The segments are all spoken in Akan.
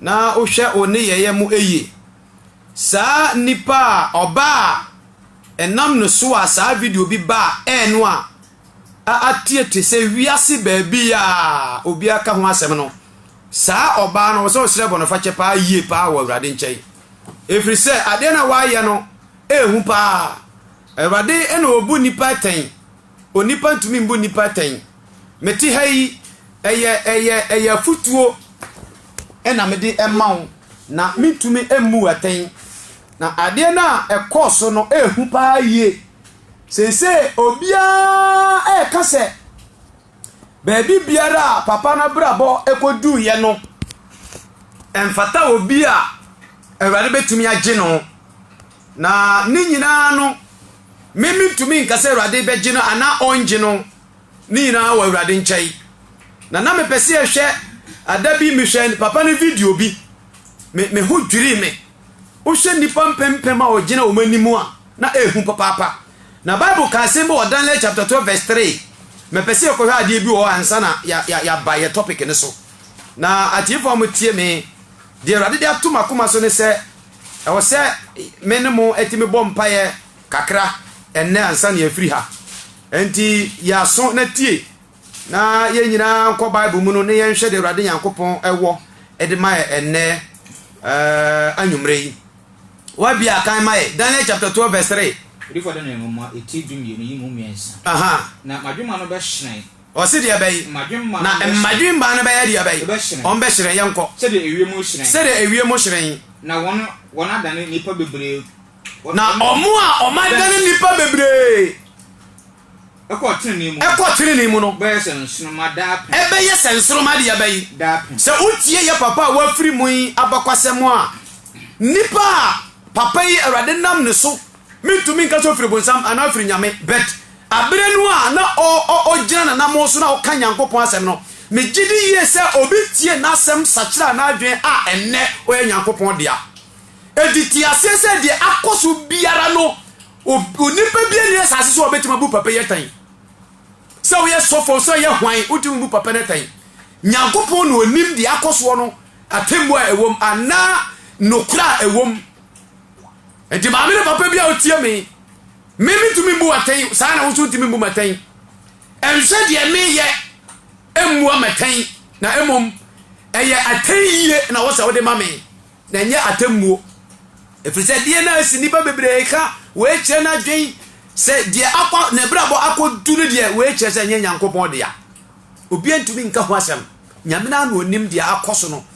Na wohwɛ wo nneyɛeɛ mu yie. Saa nipa a ɔbaa a ɛnam ne so a saa video bi baa air no a ateɛ te sɛ wiase baabi a obiara ka ho asɛm no, saa ɔbaa no, ɔsɛ ɔsrɛ bɔnefakyɛ paa yie paa wɔ Awurade nkyɛn. Ɛfiri sɛ adeɛ no a wayɛ no ɛhu paa. Awurade na ɔbu nnipa atɛn. Onipa ntumi mbu nnipa atɛn. Mete ha yi, ɛyɛ ɛyɛ ɛyɛ afutuo na mede ma wo na mentumi mmu wo atɛn. Na adeɛ no a ɛkɔɔ so no ɛhu paa yie. Seesei obiara ɛka sɛ baabi biara a papa no abrabɔ ɛkɔduuiɛ no ɛmfata obi a Awurade bɛtumi agye no. Na ne nyinaa no. Me mentumi nka sɛ Awurade bɛgye no anaa ɔnngye no, ne nyinaa wɔ Awurade nkyɛn. Na na mepɛ sɛ yɛhwɛ, da bi mehwɛ papa no video bi, me me ho dwirii me. Wohwɛ nnipa mpempem a ɔgyina wɔn anim a, na ɛyɛ hu papaapa. Na Bible ka asɛm bi wɔ Daniel chapter 12 verse 3. Mepɛ sɛ yɛkɔhwɛ adeɛ bi wɔ hɔ ansa na yɛaba yɛ topic no so. Na atiefoɔ a wɔtie me, deɛ Awurade de ato m'akoma so ne sɛ, Ɛwɔ sɛ me ne mo tumi bɔ mpaeɛ kakra ɛnnɛ ansa na yɛafiri ha. Enti yɛ aso na tie, na yɛn nyinaa nkɔ Bible mu no na yɛnhwɛ deɛ Awurade Nyankopɔn wɔ de ma yɛ ɛnnɛ uh, anwummerɛ yi. Wabia akan ma yɛ. Daniel chapter 12 verse 3. Odifo Daniel nwoma eti du mmienu yi mu mmiɛnsa. Aha. Na m'adwemma no bɛhyerɛn. Ɔse deɛ bɛyi na mmadwemma no bɛyɛ deɛ bɛyi wɔn bɛhyerɛn yɛnkɔ sɛdeɛ ewiem hyerɛn. Na wɔn adane nnipa bebree kɔ tenenee mu no bɛyɛ sɛ nsoroma daapem. Ɛbɛyɛ sɛ nsoroma deɛ bɛyi daapem. Sɛ wotie yɛ papa a wafiri mu yi abakwasɛm a, nipa a papa yi Awurade nam ne so, mentumi nka sɛ ofiri bonsam anaa ofiri Nyame but. Bere no a na ogyina n'anammɔn so na ɔka Nyankopɔn asɛm no, migye di yiye sɛ obi tiee n'asɛm sakyeraa n'adwene a ɛnnɛ ɔyɛ Nyankopɔn dea. Enti te aseɛ sɛ deɛ akɔ so biara no, onipa biara nni asase so a ɔbɛtumi abu papa yi atɛn. Sɛ woyɛ sɔfo, sɛ woyɛ hwan, wotumi bu papa no atɛn. Nyankopɔn na ɔnim deɛ akɔ soɔ no, atemmuo a ɛwom anaa nokorɛ a ɛwom. Enti maame ne papa bi a wotie me, me metumi mbu atɛn, saa ara na wo nso wotumi mbu me atɛn. Ɛnsɛ deɛ meyɛ mmua me atɛn, na mmom ɛyɛ atɛn yie na wɔ sɛ wode ma me, na ɛnyɛ atɛmmuo. Ɛfiri sɛ deɛ na asi nnipa bebree ka wei kyerɛ no adwene sɛ deɛ akɔ ne brabɔ akɔdu no deɛ wei kyerɛ sɛ ɛnyɛ Nyankopɔn dea. Obiara ntumi nka ho asɛm, Nyame no ara na ɔnim deɛ akɔ so no.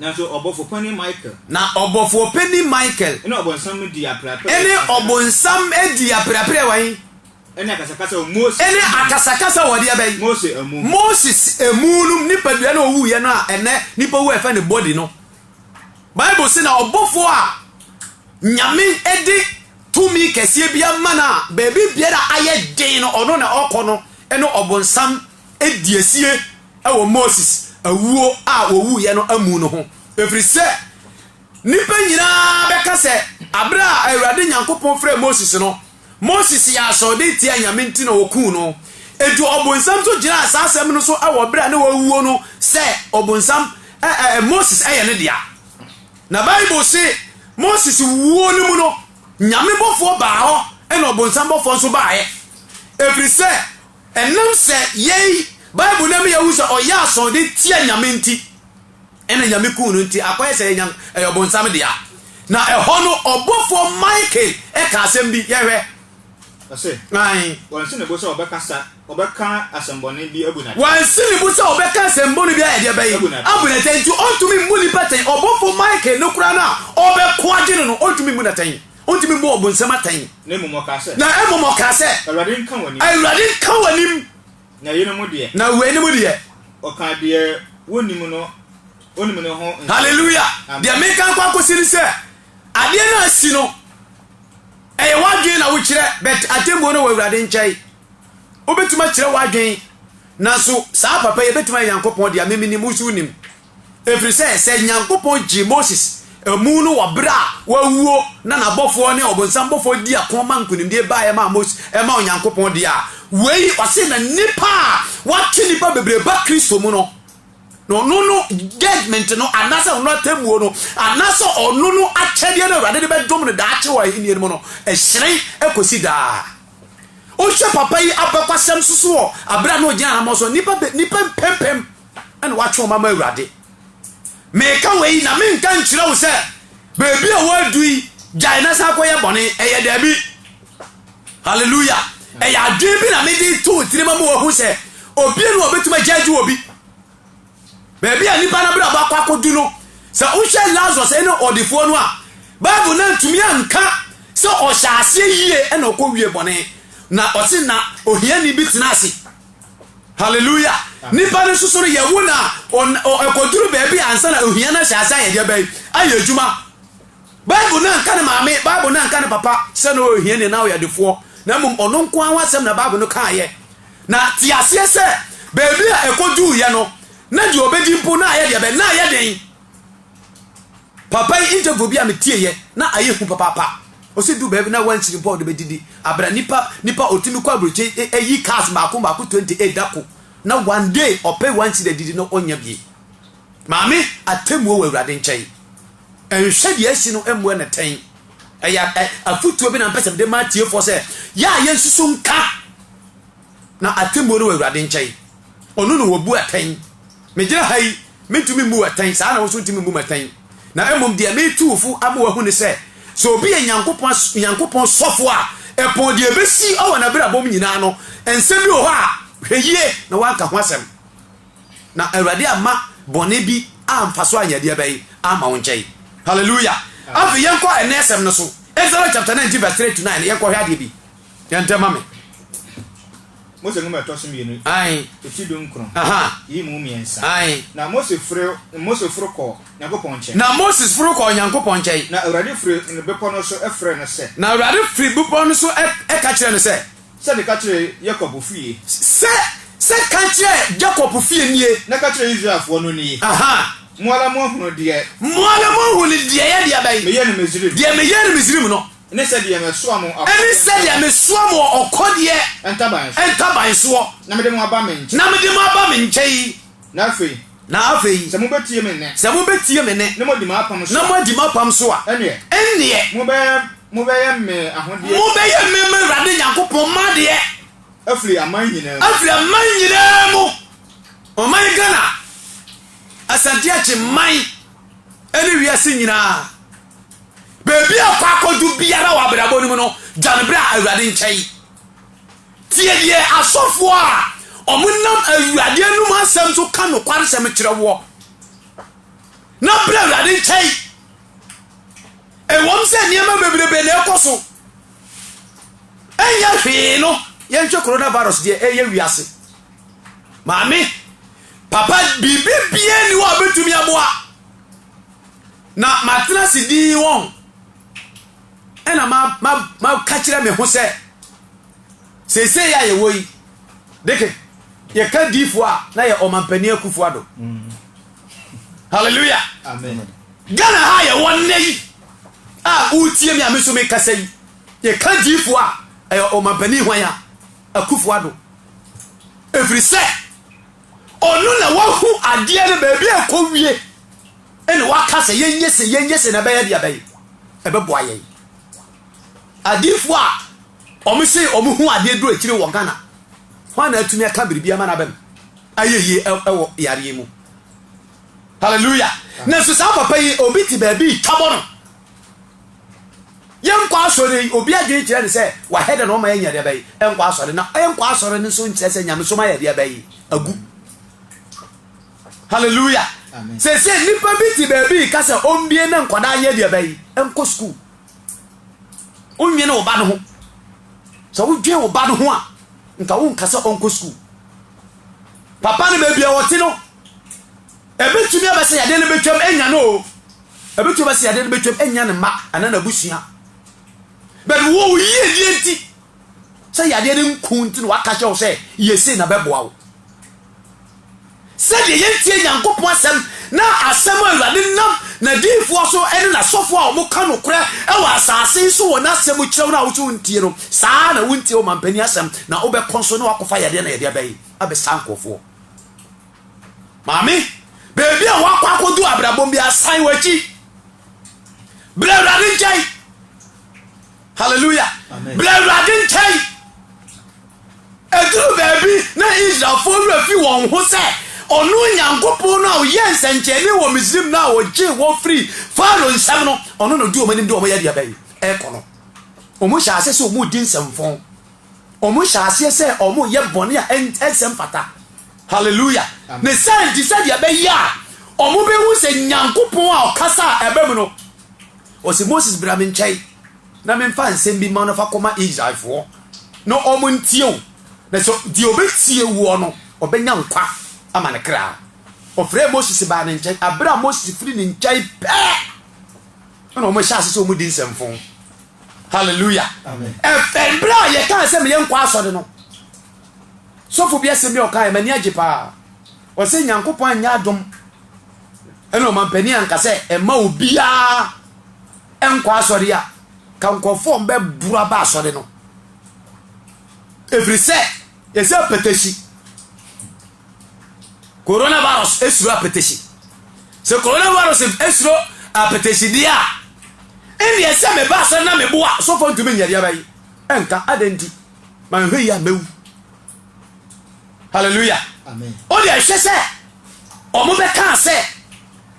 Nanso ɔbɔfo panin Michael. Na ɔbɔfoɔ panin Michael. Ɛne ɔbonsam dii apereapereɛ. Ɛne ɔbonsam dii apereapereɛ wɔ he? Ɛne akasakasa wɔ Moses amu. Ɛne akasakasa wɔ deɛ bɛn? Mose amu. Moses amu no nipadua no a ɔwuiɛ no a ɛnɛ nipa wu a yɛfrɛ no body no. Bible se na ɔbɔfoɔ a Nyame de tumi kɛseɛ bi ama no a baabi biara ayɛ den no ɔno na ɔkɔ no ne ɔbonsam di asie wɔ Moses awuo a ɔwuiɛ no amu no ho, ɛfiri sɛ nnipa nyinaa bɛka sɛ aberɛ a Awurade Nyankopɔn frɛ Moses no, Moses yɛ asɔɔden tia Nyame nti na ɔkuu no. Enti ɔbonsam nso gyinaa saa asɛm no so wɔ berɛ a na wawuo no sɛ ɔbonsam ɛ, ɛ, ɛ, Moses yɛ ne dea. Na Bible se Moses wuo no mu no, Nyame bɔfoɔ baa hɔ na ɔbonsam bɔfoɔ nso baaɛ, ɛfiri sɛ Ɛnam sɛ yei, Bible no ma yɛhu sɛ ɔyɛɛ asɔn de tia Nyame nti, ɛna Nyame kuu no nti akɔyɛ sɛ ɛyɛ ɛyɛ ɔbonsam dea. Na ɛhɔ no ɔbɔfoɔ Michael ka asɛm bi, yɛnhwɛ. Ɔse, Ae. Wansi ne bo sɛ ɔbɛkasa, ɔbɛka asɛmbɔne bi abu no atɛn. Wansi ne bo sɛ ɔbɛka asɛmbɔne bi ayɛ deɛ bɛn? Abu no atɛn. Nti ɔntumi mmu nnipa atɛn. Ɔbɔfoɔ Michael no koraa no a ɔrebɛko agye no no, ɔntumi mmu no atɛn. Ontumi mmu Ɔbonsam atɛn. Na mmom ɔkaa sɛ. Na mmom ɔkaa sɛ. Awurade nka w'anim. Awurade nka w'anim. Na weinom deɛ. Na weinom deɛ. Ɔka deɛ wɔnnim no, ɔnim no ho nsɛm. Hallelujah! Amen. Deɛ meka nkɔ akɔsi ne sɛ, adeɛ no asi no, ɛyɛ w'adwene na wokyerɛ, but atemmuo no wɔ Awurade nkyɛn. Wobɛtumi akyerɛ w'adwene, nanso saa papa yi ɛbɛtumi ayɛ Nyankopɔn deɛ, me menim, wo nso wonim. Ɛfiri sɛ sɛ Nyankopɔn gyee Moses amu no wɔ berɛ a wawuo na n'abɔfoɔ ne ɔbonsam bɔfoɔ dii ako ma nkonimdie baeɛ maa Moses ɛmaa Onyankopɔn deɛ a, wei, ɔse, na nnipa a wɔatwe nnipa bebree ba Kristo mu no, na ɔno no judgement no anaasɛ ɔno atemmuo no anaasɛ ɔno no akyɛdeɛ no Awurade de bɛdom no daakye wɔ ahennie no mu no ɛhyerɛn ɛkɔsi daa. Wohwɛ papa yi abɛkwasɛm nso so wɔ aberɛ a na ɔgyina anammɔn so a nnipa nnipa mpempem na woatwe wo mma ma Awurade. Meka wei na menka nkyerɛ wo sɛ baabi a woadu yi gyae na san kɔyɛ bɔne. Ɛyɛ daabi. Hallelujah. Ɛyɛ adwene bi na mede to wo tirim ama wahu sɛ obie no obetumi agyagye obi. Baabi a nipa no abrabɔ akɔ akɔdu no, sɛ wohwɛ Lazarus ne ɔdefoɔ no a, Bible no antumi anka sɛ ɔhyɛ aseɛ yie na ɔkɔ wie bɔne. Na ɔse na ohiani bi tena ase. Hallelujah! Nipa no soso no yɛwo no a ɛkɔduru baabi ansa na ohia no ahyɛ ase ayɛ deɛ bɛn ayɛ adwuma. Bible no anka ne maame, Bible no anka ne papa sɛ na ɔyɛ ohiani anaa ɔyɛ adefoɔ, na mmom ɔno nko ara ho asɛm na Bible no kaeɛ. Na te aseɛ sɛ baabi a ɛkɔduruiɛ no, na deɛ ɔbɛdi mpo na ayɛ deɛ bɛn na ayɛ den. Papa yi interview bi a me tie yɛ na ayɛ hu papaapa ɔsi du baabi na wɔn nkyiri mpo a ɔde bɛ didi abira nipa nipa ɔtumi kɔ aburokye ɛyi cars baako baako 28 dako na one day ɔpɛ wɔn nkyiri adidi na ɔnya bie maame atemuo wɔ awurade nkyɛn ɛnhwɛ deɛ asi no ɛmmoa na tɛn ɛyɛ afutuo bi na mpɛsɛm de ma atiefoɔ sɛ yɛ a yɛnsusu nka Na atemmuo no wɔ Awurade nkyɛn. Ɔno na ɔbu atɛn. Megyina ha yi, mentumi mmu wo atɛn, saa ara na wo nso wontumi mmu me atɛn. Na mmom deɛ meretu wo fo ama woahu ne sɛ, sɛ obi yɛ Nyankopɔn sɔfoɔ a, ɛpɔn deɛ ɛbɛsi wɔ n'abrabɔ mu nyina ara no, nsɛm bi wɔ hɔ a, hwɛ yie na woanka ho asɛm, na Awurade amma bɔne bi amfa so anyɛ deɛ bɛn amma wo nkyɛn. Hallelujah. Afei yɛnkɔ ɛnnɛ asɛm no so. Exodus chapter 19 verse 3 to 9 no, yɛnkɔhwɛ adeɛ bi. Yɛ ntɛm ma me. Mose nwoma ɛtɔ so mmienu eti du nkron yi mu mmiɛnsa. Na Mose firi Mose foro kɔɔ Nyankopɔn nkyɛn. Na Moses foro kɔɔ Nyankopɔn nkyɛn. Na Awurade firi bepɔ no so ɛfrɛ no sɛ. Na Awurade firi bepɔ no so ɛka kyerɛ no sɛ. Sɛ de ka kyerɛ Yakob fie. Sɛ sɛ ka kyerɛ Yakob fie nie. Na ka kyerɛ Israelfoɔ no nie. Mo ara mo ahunu deɛ. Mo ara mo ahunu deɛ yɛ deɛ bɛn. Meyɛ no Misrim. Deɛ meyɛ no Misrim no. Ɛne sɛdeɛ mɛsoa mo wɔ ɔkɔdeɛ ntaban soɔ. Ɛne sɛdeɛ mɛsoa mo wɔ ɔkɔdeɛ ntaban soɔ. Na mede mo aba me nkyɛn. Na mede mo aba me nkyɛn. Na afei. Na afei. Sɛ mobɛtie me nne. Sɛ mobɛtie me nne. Na moadi m'apam so a. Na moadi m'apam so a. Ɛnneɛ. Ɛnneɛ. Mobɛyɛ, mobɛyɛ me ahodeɛ. Mobɛyɛ me m'Awurade Nyankopɔn m'adeɛ. Afiri aman nyinaa mu. Afiri aman nyinaa mu. Ɔman Ghana, Asante Akyem man, ɛne wiase nyinaa. Baabi a ɔkɔ akɔdu biara wɔ abrabɔ no mu no, gya no bra Awurade nkyɛn. Tie deɛ asɔfoɔ a wɔnam Awurade anum asɛm so ka nokwaresɛm kyerɛ woɔ, na bra Awurade nkyɛn. Ɛwɔm sɛ nneɛma bebrebe na ɛkɔ so. Ɛnyɛ hwee no, yɛnhwɛ coronavirus deɛ ɛyɛ wiase. Maame, papa, biribi biara ni hɔ a bɛtumi aboa. Na matena ase dinn wɔn, ɛnna ma ma maka kyerɛ me ho sɛ, Seesei a yɛwɔ yi, deke, yɛka diifoɔ a na yɛ ɔmampanin Akufo Addo. Hallelujah. Amen. Ghana ha yɛwɔ nnɛ yi a wotie me a me so mekasa yi, yɛka diifoɔ a ɛyɛ ɔmampanin hwan a Akufo Addo. Ɛfiri sɛ, ɔno na wahu adeɛ no baabi a ɛkɔ wie. Ɛna waka sɛ yɛnyɛ sei, yɛnyɛ sei na ɛbɛyɛ deɛ bɛn? Ɛbɛboa yɛn. Adiifoɔ a wɔn se wɔn hu adeɛ duru akyire wɔ Ghana, hwan na atumi aka biribi ama n'aba mu ayɛ yie ɛwɔ yareɛ mu? Hallelujah! Nanso saa papa yi, obi te baabi retwabɔ no. Yɛnkɔ asɔre yi, obi adwene kyerɛ no sɛ wahɛ dɛ na ɔma yɛnyɛ deɛ bɛyi, ɛnkɔ asɔre. Na ɛnkɔ asɔre no nso nkyerɛ sɛ nyamesom ayɛ deɛ bɛyi, agu. Hallelujah! Seesei nipa bi te baabi reka sɛ ɔmbie na nkwadaa nyɛ deɛ bɛyi nkɔ sukuu. Wonwene wo ba no ho. Sɛ wodwen wo ba no ho a, nka wonka sɛ ɔnkɔ sukuu. Papa no baabi a wɔte no, ɛbɛtumi abɛ sɛ yadeɛ no bɛtwam anya no o. Ɛbɛtumi abɛ sɛ yadeɛ no bɛtwam anya ne mma anaa n'abusua. But wo wo yiedie nti, sɛ yadeɛ no nku nti na waka kyerɛ wo sɛ yɛ sei na bɛboa wo. Sɛdeɛ yɛntie Nyankopɔn asɛm na asɛm a Awurade nam n'adiyifoɔ so ne n'asɔfoɔ a wɔka nokorɛ wɔ asase yi so wɔ n'asɛm mu kyerɛ wo no a wo nso wontie no, saa ara na wontie ɔmampanin asɛm na wobɛkɔ nso na woakɔfa yadeɛ na yɛde aba yi abɛsa nkurɔfoɔ. Maame, baabi a woakɔ akɔdu abrabɔ mu biara, san w'akyi. Brɛ Awurade nkyɛn. Hallelujah! Bra Awurade nkyɛn. Ɛduru baabi na Israelfoɔ werɛ fi wɔn ho sɛ ɔno Nyankopɔn no a ɔyɛ nsɛnkyɛnne wɔ Misrim no a ɔgyee wɔn firii Farao nsam no, ɔno na ɔdi wɔn anim de wɔn yɛ aduaba yi ɛrekɔ no. Wɔn hyɛ aseɛ sɛ wɔn redi nsɛmfɔn. Wɔn hyɛ aseɛ sɛ wɔn yɛ bɔne a ɛnsɛ mfata. Hallelujah! Ne saa nti sɛdeɛ ɛbɛyɛ a wɔn bɛhu sɛ Nyankopɔn a ɔkasa a ɛbɛ mu no, Ɔse Moses bra me nkyɛn na memfa nsɛm bi ma no fa kɔma Israelfoɔ na ɔmo ntie wo, na sɛ deɛ ɔbɛtie woɔ no ɔbɛnya nkwa ama ne kra. Ɔfrɛɛ Moses baa ne nkyɛn, aberɛ a Moses firi ne nkyɛn pɛɛ na ɔmo hyɛ ase sɛ ɔmo di nsɛmfo. Hallelujah. Amen. Ɛfɛn berɛ a yɛkaa sɛ meyɛ nkɔ asɔre no, sɔfo bi asɛm bi a ɔkaeɛ m'ani agye paa. Ɔse Nyankopɔn anyɛ adom ɛna ɔmanpanin anka sɛ ɛma obiara ɛnkɔ asɔre a ka nkurɔfoɔ ɔmbɛboro aba asɔre no ɛfiri sɛ ɛsɛ apɛtɛsi coronavirus ɛsuro apɛtɛsi sɛ coronavirus ɛsuro apɛtɛsi deɛ a ɛnneɛ sɛ meba asɔre na meboa sɔfoɔ ntumi nyɛdeɛ bɛyi ɛnka adɛn nti manhwɛ yi a mɛwu hallelujah o deɛ ɛhwɛ sɛ ɔmo bɛka sɛ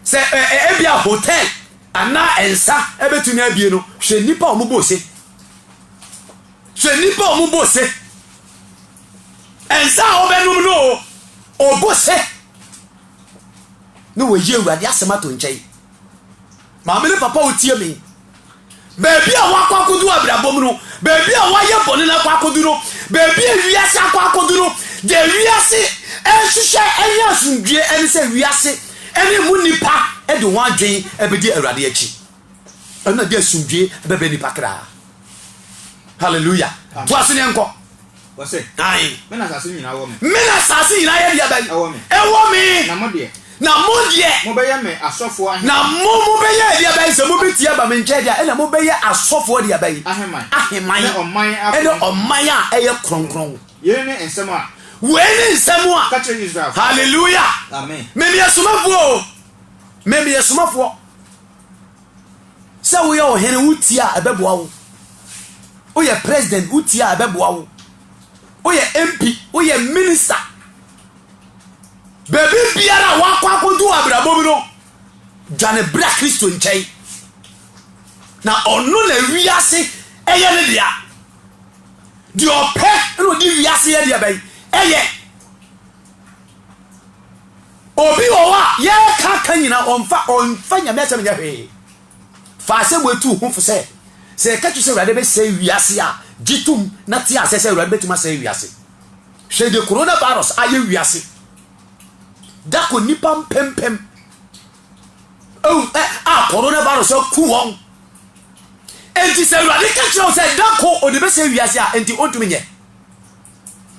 sɛ ɛ ɛ ebi a hotel anaa nsa ɛbɛtumi abie no hwɛ nipa a ɔmo bɔ ose hwɛ nipa a ɔmo bɔ ose nsa a ɔbɛnum no o ɔbɔ ose ne wɔyi awurade asɛm ato nkyɛn. Maame ne papa a wɔtie me. Baabi a wɔakɔ akɔdu abirabɔ mu no, baabi a wɔayɛ bɔne no akɔ akɔdu no, baabi a wiase akɔ akɔdu no, deɛ wiase ɛrehwehwɛ ɛnyɛ asomdwoeɛ, ɛne sɛ wiase ɛne emu nnipa de wɔn adwen ɛbɛdi Awurade akyi. Ɛno na de asomdwoeɛ ɛbɛbrɛ nnipa kra. Hallelujah. To ase ne nkɔ. Ɔse, Me na asase nyinaa wɔ me. Me na asase nyinaa yɛ deɛ bɛn? Ɛwɔ me. Ɛwɔ me. Na mo deɛ. Na mo deɛ. Mobɛyɛ me asɔfoɔ aheman. Na mo mobɛyɛ deɛ bɛn? Sɛ mobɛtie aba me nkyɛn deɛ a, ɛna mobɛyɛ asɔfoɔ deɛ bɛn? Aheman. Aheman. Ɛne ɔman a kronkron. Ɛne ɔman a ɛyɛ kronkron. Yei ne nsɛm a. Wei ne nsɛm a. Ka kyerɛ Israelfoɔ. Hallelujah. Amen. Me meyɛ somafoɔ o. Me meyɛ somafoɔ. Sɛ woyɛ ɔhene wotie a ɛbɛboa wo. Woyɛ president wotie a ɛbɛboa wo. Woyɛ MP, woyɛ minister. Baabi biara a woakɔ akɔdu wɔ abrabɔ mu no, dwane bra Kristo nkyɛn. Na ɔno na wiase ɛyɛ ne dea. Deɛ ɔpɛ na ɔde wiase yɛ deɛ bɛn ɛyɛ. Obi wɔ hɔ a yɛka aka nyinaa ɔmfa ɔmfa Nyame asɛm nyɛ hwee. Fa asɛm wei to wo ho fo sɛ, sɛ yɛka kyerɛ sɛ Awurade bɛsɛe wiase a, gye tom na te aseɛ sɛ Awurade bɛtumi asɛe wiase. Hwɛ deɛ Corona Virus ayɛ wiase. Da kɔ nnipa mpempem awu ɛ a Corona Virus aku wɔn. Enti sɛ Awurade ka kyerɛ wo sɛ da kɔ ɔde bɛsɛe wiase a, enti ɔntumi nyɛ.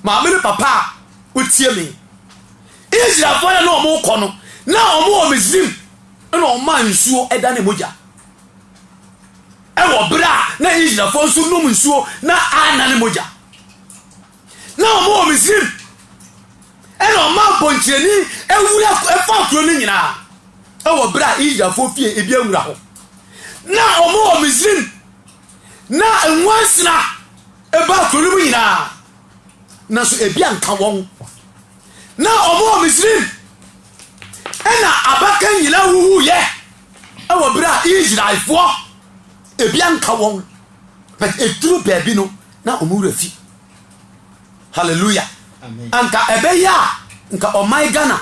Maame ne papa a wotie me. Israelfoɔ yɛ na wɔkɔ no, na wɔn wɔ Misrim na wɔn maa nsuo ɛda ne mogya. Ɛwɔ berɛ a na Israelfoɔ nso nom nsuo na ana ne mogya. Na wɔn wɔ Misrim ɛna wɔn maa mpɔnkyerɛni awura ɛfa kuro no nyinaa. Ɛwɔ berɛ a Israelfoɔ fie ebi awura hɔ. Na wɔn wɔ Misrim. Ná nwansena ba kurow no mu nyinaa, nanso ebi anka wɔn. Ná wɔwɔ Misraim, ɛnna abakan nyinaa wuwuiɛ wɔ berɛ a Israelfoɔ ebi anka wɔn. But ɛduru baabi no, na wɔn wura fi. Hallelujah. Anka ɛbɛyɛ a, nka ɔman Ghana,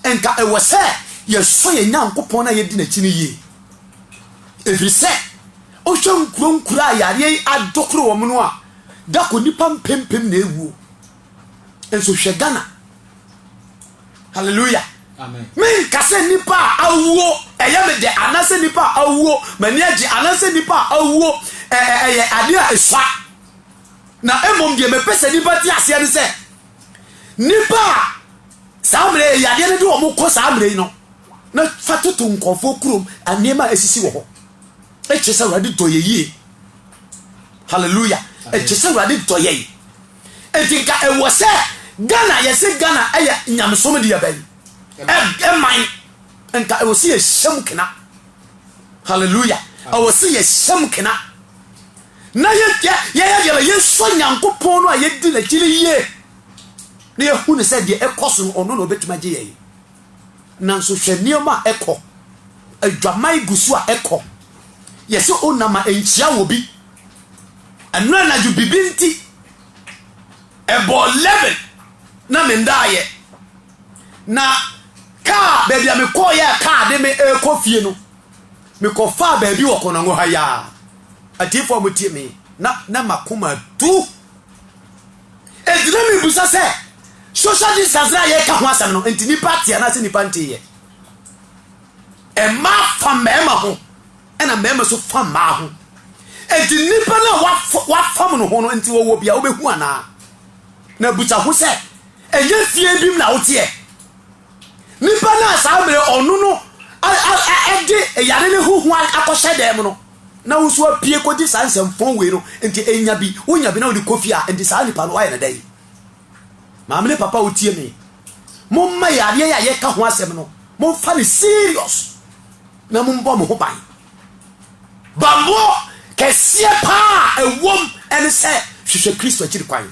nka ɛwɔ sɛ yɛsɔ yɛn Nyankopɔn na yɛdi n'akyi no yie. Ɛfiri sɛ, wohwɛ nkuro nkuro a yareɛ yi adokoro wɔn no a, da kɔ nnipa mpempem na ɛwuo. Nso hwɛ Ghana. Hallelujah. menka sɛ nnipa a awuo ɛyɛ me dɛ anaasɛ nnipa a awuo m'ani agye anaasɛ nnipa a awuo ɛyɛ adeɛ a ɛsua na mmom deɛ mepɛ sɛ nnipa te aseɛ ne sɛ Nnipa a saa mmerɛ yi yadeɛ no de wɔn kɔ saa mmerɛ yi no, na fa toto nkurɔfoɔ kurom nneɛma a ɛsisi wɔ hɔ. Ɛkyerɛ sɛ Awurade dɔ yɛ yie. Hallelujah. Ɛkyerɛ sɛ Awurade dɔ yɛn. Enti nka ɛwɔ sɛ Ghana yɛsɛ Ghana ɛyɛ nyamesom deɛ bɛn? Ɛman. Nka ɛwɔ sɛ yɛhyɛ mu kena. Hallelujah. Ɛwɔ sɛ yɛhyɛ mu kena. na yɛyɛ deɛ bɛ yɛnsɔ Nyankopɔn no a yɛdi n'akyi no yie na yɛhu no sɛ deɛ ɛkɔ so no ɔno na ɔbɛtumi agye yɛn nanso hwɛ nneɛma a ɛkɔ adwaman gu so a ɛkɔ yɛsɛ onam a ɛnkyia wɔ bi ɛno anadwo bibi nti ɛbɔ 11 na mendaayɛ na kaa baabi a mekɔɔyɛ a kaa de me ɛkɔ fie no Mekɔfaa baabi wɔ Konongo ha yi a, atiefo a motie me yi, na na m'akoma atu. Enti na mebisa sɛ, social distancing a yɛka ho asɛm no, enti nipa te anaasɛ nipa nte yɛ? Mmaa fa mmarima ho, ɛna mmarima nso fa mmaa ho. Enti nipa no a wafam no ho no, enti wɔwɔ bia wobɛhu anaa? Na busa ho sɛ, ɛnyɛ fie bi mu na woteɛ? Nipa no a saa mmere ɔno no de yare no ho hua akɔhyɛ dan mu no, na wo nso apue kɔgye saa nsɛmfɔn wei no, nti enya bi, wonya bi na wode kɔ fie a, nti saa nipa no woayɛ no dɛn? Maame ne papa a wotie me, momma yareɛ yi a yɛka ho asɛm no, momfa no serious na mombɔ mo ho ban. Bammɔ kɛseɛ paa a ɛwom ɛne sɛ hwehwɛ Kristo akyiri kwan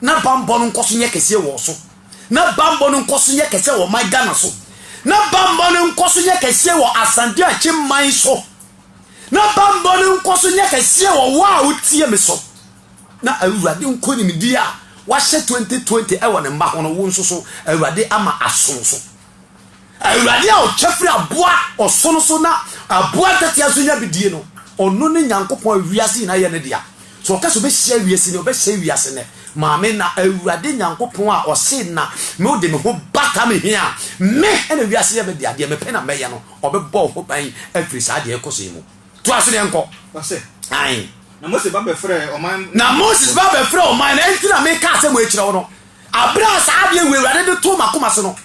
na bammɔ no nkɔ so nyɛ kɛseɛ wɔ so. Na bammɔ no nkɔso nyɛ kɛseɛ wɔ ɔman Ghana so. Na bammɔ no nkɔso nyɛ kɛseɛ wɔ Asante Akyem man so. Na bammɔ no nkɔso nyɛ kɛseɛ wɔ wo a wotie me so. Na Awurade nkonimdie a wahyɛ 2020 wɔ ne mma ho no, wo nso so Awurade ama aso wo so. Awurade a ɔtwa firi aboa ɔsono so na aboa ntatea so nya bidie no, ɔno ne Nyankopɔn a wiase nyinaa yɛ ne dea. So ɔka sɛ ɔbɛhyira awiase nnɛ? Ɔbɛhyira awiase nnɛ. Maame, na Awurade Nyankopɔn a ɔse na me wode me ho bata me he a, me na wiase yɛ me dea, deɛ mepɛ na mɛyɛ no, ɔbɛbɔ wo ho ban afiri saa deɛ ɛkɔ so yi mu. Toa so na yɛnkɔ. Ɔse, Aane. Na Moses ba bɛfrɛɛ ɔman no. Na Moses ba bɛfrɛɛ ɔman no. Enti na mekaa sɛ moakyira wo no. Bere a saa adeɛ wei Awurade de too m'akoma so no,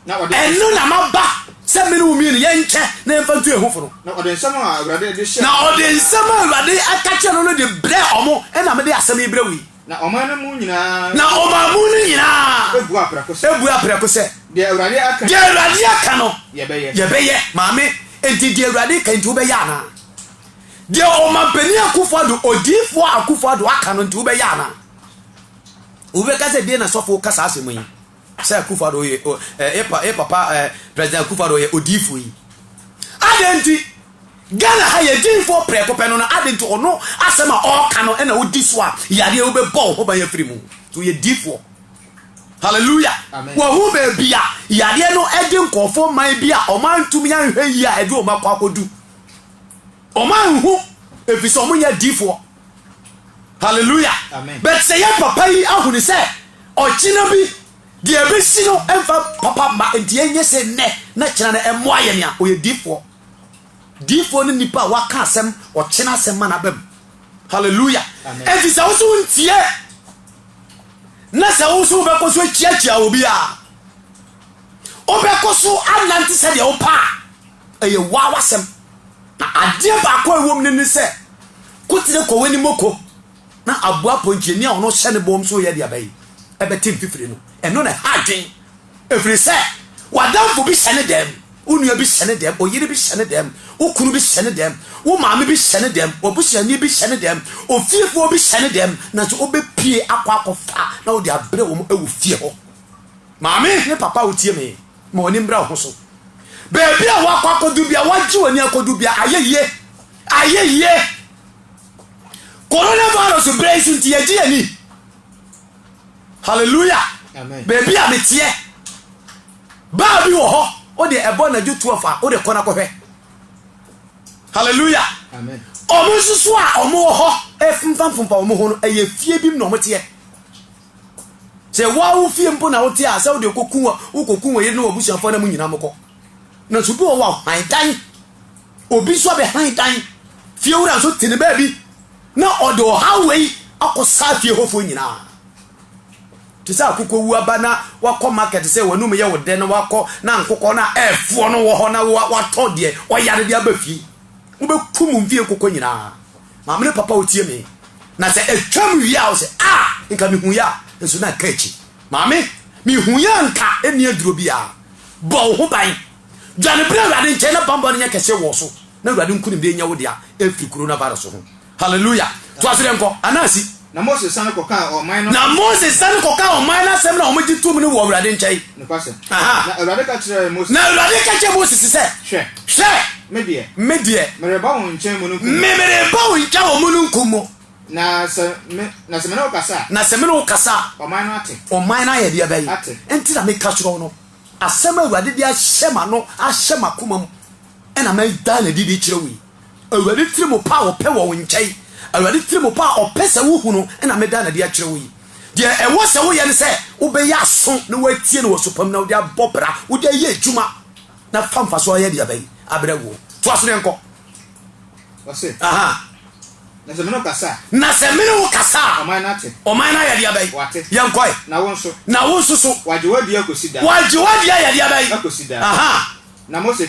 ɛno na maba sɛ me ne wo mmienu yɛnkyɛ na yɛmfa ntu yɛn ho fo no. Na ɔde nsɛm a Awurade de hyɛɛ Na ɔde nsɛm a Awurade ka kyerɛɛ no no de brɛɛ wɔn, ɛnna mede asɛm yi brɛ wo yi. Na ɔman no mu nyinaa Na ɔman mu no nyinaa buaa prɛko sɛ, buaa prɛko sɛ, Deɛ Awurade aka Deɛ Awurade aka no, yɛbɛyɛ. yɛbɛyɛ. Maame, enti deɛ Awurade reka yi nti wobɛyɛ anaa? Deɛ Ɔmampanin Akufo-Addo, Odiyifoɔ Akufo-Addo aka no nti wobɛyɛ anaa? Obi bɛka sɛ deɛ na sɔfo ka saa asɛm yi sɛ Akufo-Addo yɛ ɛ ɛ papa ɛ President Akufo-Addo yɛ odiifo yi. Adɛn nti Ghana ha yɛ diifo prɛko pɛ no na adɛn nti ɔno asɛm a ɔreka no ɛna odi so a yadeɛ wobɛbɔ wo ho ban afiri mu nti ɔyɛ diifoɔ. Hallelujah. Wɔhu baabi a yadeɛ no ɛde nkurɔfoɔ man bi a ɔman ntumi anhwɛ yie a ɛde ɔma kɔ akɔdu. Ɔman nhu ɛfiri sɛ ɔmo nyɛ diifoɔ. Hallelujah. But sɛ yɛ papa yi ahunu sɛ ɔkyena bi deɛ ɛbɛsi no ɛmfa papa mma nti ɛnyɛ sɛ nnɛ na kyena no ɛmmoa yɛn a ɔyɛ difoɔ. Difoɔ ne nipa a waka asɛm ɔkyena asɛm ma n'aba mu. Hallelujah. Ɛnti sɛ wo so wontie na sɛ wo so wobɛkɔ so akyiakyia obi a wobɛkɔ so anante sɛdeɛ wopɛ a ɛyɛ waa w'asɛm. Adeɛ baako a ɛwɔ mu no ne sɛ, ko tene kɔ w'anim o ko, na aboa pɔnkyenni a ɔno hyɛ ne bɔn mu sɛ ɔyɛ aduaba yi bɛte mfifire no. Ɛno na ɛha adwene, ɛfiri sɛ w'adamfo bi hyɛ ne dɛm, wo nua bi hyɛ ne dɛm, ɔyere bi hyɛ ne dɛm, wo kunu bi hyɛ ne dɛm, wo maame bi hyɛ ne dɛm, w'abusuani bi hyɛ ne dɛm, ofiefoɔ bi hyɛ ne dɛm, nanso wobɛpue akɔ akɔfa na wode abrɛ wɔn wɔ fie hɔ. Maame ne papa a wotie me. Ma w'ani mmra wo ho so. Baabi a woakɔ akɔdu bia, woagye w'ani akɔdu bia, ayɛ yie. Ayɛ yie. Coronavirus berɛ yi so nti yɛgye yɛn ani. Hallelujah. Baabi a meteɛ. Baa bi wɔ hɔ, o de ɛbɔ anadwo 12 a, o de kɔ na kɔhwɛ. Hallelujah. Amen. ɔmo nso so a ɔmo wɔ hɔ ɛfomfamfomfa ɔmo ho no ɛyɛ fie bi mu na ɔmo teɛ Sɛ woa wo fie mpo na wote a sɛ wode kɔku wɔ wokɔku wɔ yere ne wɔbusuafoɔ na mo nyina mo kɔ. Na so bi wɔ wɔ han dan. Obi nso abɛ han dan. Fie wura nso te ne baabi. Na ɔde ɔhaw wei akɔ saa fie hɔfoɔ nyina. Te sɛ akokɔ wu aba na wakɔ market sɛ wanum yɛ wo dɛ na wakɔ na nkokɔ na ɛfoɔ no wɔ hɔ na watɔ deɛ ɔyare de aba fie. Wobɛku mo mfie nkokɔ nyinaa. Maame ne papa wotie me. Na sɛ ɛtwam wie a wɔsɛ, a, nka mehuiɛ a, nso na ɛka akyi. Maame, mehuiɛ a nka ɛnni aduro biara. Bɔ wo ho ban. Dwane bra Awurade nkyɛn na banbɔ no nyɛ kɛseɛ wɔ wo so na Awurade nkonimdie nyɛ wo dea ɛfiri Coronavirus ho. Hallelujah. Toa so deɛ nkɔ, anaa si. Na Mose sane kɔkaa ɔman no asɛm. Na Mose sane kɔkaa ɔman no asɛm na wɔgye toom no wɔ Awurade nkyɛn. Nokwasɛm. Aha. Na Awurade ka kyerɛɛ Mose. Na Awurade ka kyerɛɛ Mose se sɛ. Hwɛ. Hwɛ. Me deɛ. Me deɛ. Mereba wɔn nkyɛn mununkum mu. Me, mereba wo nkyɛn wɔ mununkum mu. Na sɛ me, na sɛ me ne wo kasa a. Na sɛ me ne wo kasa a. Ɔman no ate. Ɔman no ayɛ deɛ bɛn? Ate. Enti na meka kyerɛ wo no, asɛm a Awurade de ahyɛ m'ano, ahyɛ m'akoma mu, ɛna meda no adi de kyerɛ wo yi. Awurade tiri mu pɛ a ɔpɛ wɔ wo nkyɛn, Awurade tiri mu pɛ a ɔpɛ sɛ wohu no na meda no adi akyerɛ wo yi. Deɛ ɛwɔ sɛ woyɛ ne sɛ wobɛyɛ aso na woatie no wɔ su pa mu na wode abɔ bra, wode ayɛ adwuma na fa mfasoɔ ayɛ deɛ bɛn abrɛ woɔ. Toa so na yɛnkɔ. Ɔse, Aha. Na sɛ me ne wo kasa a. Na sɛ me ne wo kasa a. Ɔman no ate. Ɔman no ayɛ deɛ bɛn. Wɔate. Yɛnkɔe. Na wo nso. Na wo nso so. Wɔagye wo adi akɔsi daa. Wɔagye wo adi ayɛ deɛ bɛn. Akɔsi daa. Aha. Na Mose.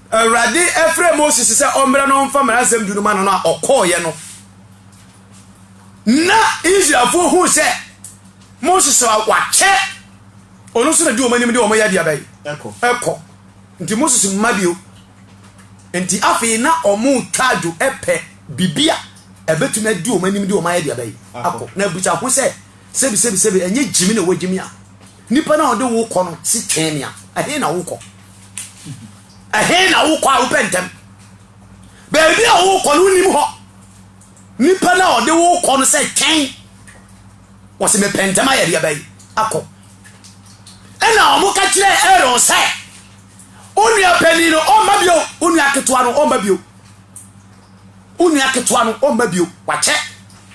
Awurade frɛɛ Moses sɛ ɔmmra na ɔmfa Mmara Nsɛm Du no ma no no a ɔkɔeɛ no, na Israelfoɔ huu sɛ Moses a wakyɛ ɔno nso na di wɔn anim de wɔn yɛ adeaba yi ɛkɔ. Nti Moses mma bio. Nti afei na wɔn twa adwo pɛ biribi a ɛbɛtumi adi wɔn anim de wɔn ayɛ adeaba yi akɔ. Na abusa ho sɛ, sɛbi sɛbi sɛbi, ɛnyɛ gyimi na wɔgyimi a nipa no a ɔde wo kɔ no si twɛn me a, ɛhe na wokɔ? Ɛhe na wokɔ a wopɛ ntɛm? Baabi a wokɔ no wonim hɔ. Nipa no a ɔde wokɔ no sɛ twɛn. Wɔsi mepɛ ntɛm ayɛ deɛ bɛyi akɔ. Ɛna wɔn ka kyerɛ Aaron sɛ, onua panin no ɔmma bio, onua ketewa no ɔmma bio. Onua ketewa no ɔmma bio, wakyɛ.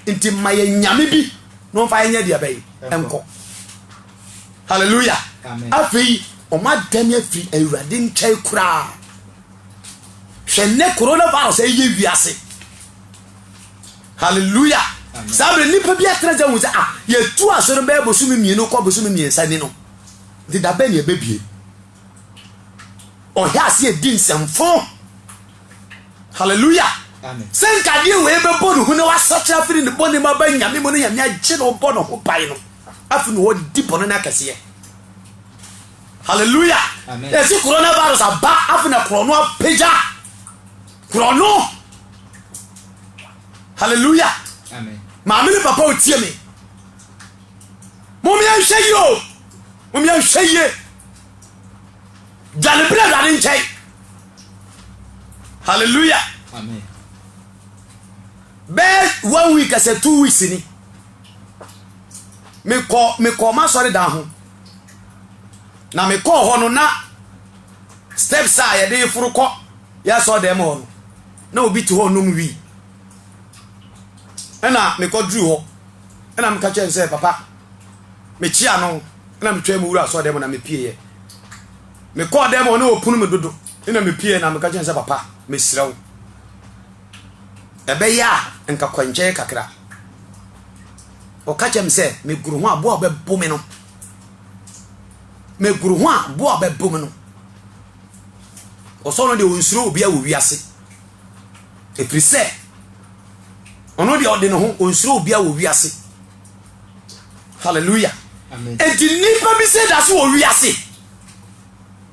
Nti ma yɛ nyame bi na ɔmfa yɛ nyɛ deɛ bɛyi nkɔ. Hallelujah. Afei, wɔn adane afiri Awurade nkyɛn koraa. Hwɛ nnɛ coronavirus ɛyɛ wiase. Hallelujah. Saa bere nipa bi atena gya hu sɛ ah yɛtu asɔre bɛyɛ bosome mmienu kɔ bosome mmiɛnsa ni no. Nti da bɛn na ɛbɛbie? Ɔhɛ ase adi nsɛmfo. Hallelujah. Sɛ nkadeɛ wei bɛbɔ ne ho na wasakyera afiri ne bɔne mu aba nyame mu no nyame agye na ɔbɔ ne ho ban no. Afei na wɔdi bɔne no akɛseɛ. Hallelujah. Amen. Yɛsi coronavirus aba afei na korɔ no apagya. Korɔ no. Hallelujah. Amen. Maame ne papa otie me. Mom yɛnhwɛ yie o. Mom yɛnhwɛ yie. Dwane bere Awurade nkyɛn. Hallelujah. Amen. Bɛɛ one week as a two weeks ni. mekɔ mekɔ m'asɔredan ho na mekɔɔ hɔ no na steps a yɛde foro kɔ yɛ asɔredan mu hɔ no na obi te hɔ nom wii ɛna mekɔduru hɔ ɛna meka kyerɛ no sɛ papa mekyia no ɛna metwa mu wura asɔredan mu na mepieeɛ mekɔɔ dan mu hɔ na ɔpunu me dodo ɛna mepieeɛ na meka kyerɛ no sɛ papa mesrɛ wo Ɛbɛyɛ a nka kwankyɛɛ kakra. Ɔka kyerɛ me sɛ megoro ho a bo a ɔbɛbo me no megoro ho a bo a ɔbɛbo me no ɔsɔ no deɛ ɔnsuro obi a wɔ wiase ɛfiri sɛ ɔno deɛ ɔde ne ho ɔnsuro obi a wɔ wiase hallelujah ɛti nnipa bi sɛ da so wɔ wiase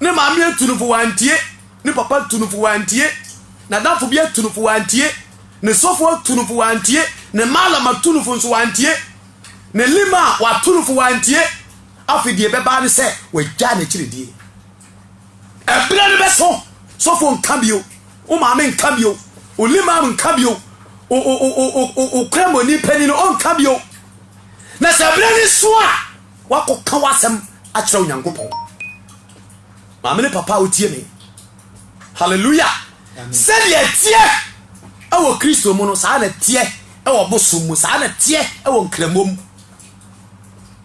Ne maame atu no fo wantie, ne papa atu no fo wantie, n'adamfo bi atu no fo wantie, ne sɔfo atu no fo wantie, ne maalam atu no fo nso wantie, ne lim a watu no fo wantie. Afei deɛ ɛbɛba ne sɛ wagyaa n'akyiri die. Ɛberɛ no bɛso, sɔfo nka bio, wo maame nka bio, wo limam nka bio, wo kramoni panin no ɔnka bio. Na sɛ ɛberɛ no so a, Woakɔka w'asɛm akyerɛ Onyankopɔn. Maame ne papa a wotie me, hallelujah, sɛdeɛ ɛteɛ wɔ Kristo mu no, saa na ɛteɛ wɔ bosom mu, saa na ɛteɛ wɔ nkramom.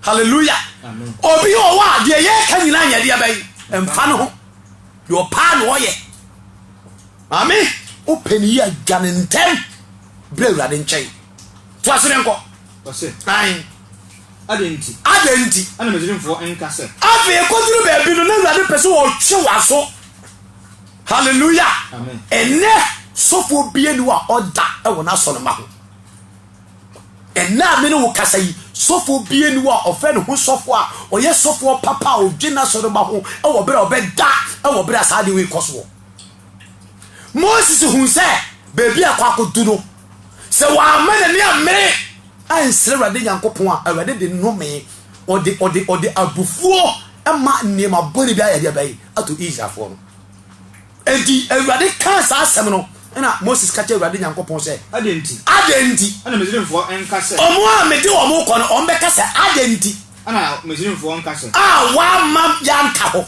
Hallelujah. Obi wɔ hɔ a deɛ yɛka nyinaa nyɛ deɛ bɛyi mfa no ho. Deɛ ɔpaa na ɔyɛ. Maame, wopɛ ne yi a dwa ne ntɛm brɛ Awurade nkyɛn. To ase ne nkɔ. Ae. Adɛn nti. Adɛn nti. Na Misraimfoɔ nka sɛ. Afei ɛkɔduru baabi no, na Awurade pɛ sɛ ɔtwe w'aso. Hallelujah. Amen. Ɛnɛ sɔfoɔ bia ni wa ɔda ɛwɔ n'asɔ no ma ho. Ɛnɛ a mene wo kasa yi, sɔfoɔ bia ni wa ɔfɛ ne ho sɔfoɔ a ɔyɛ sɔfoɔ papa a ɔdwe n'asɔ no ma ho ɛwɔ berɛ a ɔbɛda ɛwɔ berɛ a saa adeɛ wei kɔ soɔ. Moses hun sɛ baabi a ɛkɔ akɔdu no Sɛ wamma n'ani ammere ansrɛ Awurade Nyankopɔn a, Awurade de nnome, ɔde, ɔde, ɔde abufuo ma nneɛma bɔne bi ayɛ deɛ bɛyi ato Israelfoɔ no. Enti Awurade kaa saa asɛm no, ɛna Moses ka kyerɛ Awurade Nyankopɔn sɛ, Adɛn nti? Adɛn nti? Ɛna Misraimfoɔ nka sɛ. Wɔn a mede wɔn rekɔ no, wɔn bɛka sɛ, Adɛn nti. Ɛna Misraimfoɔ nka sɛ. A wamma yɛanta hɔ?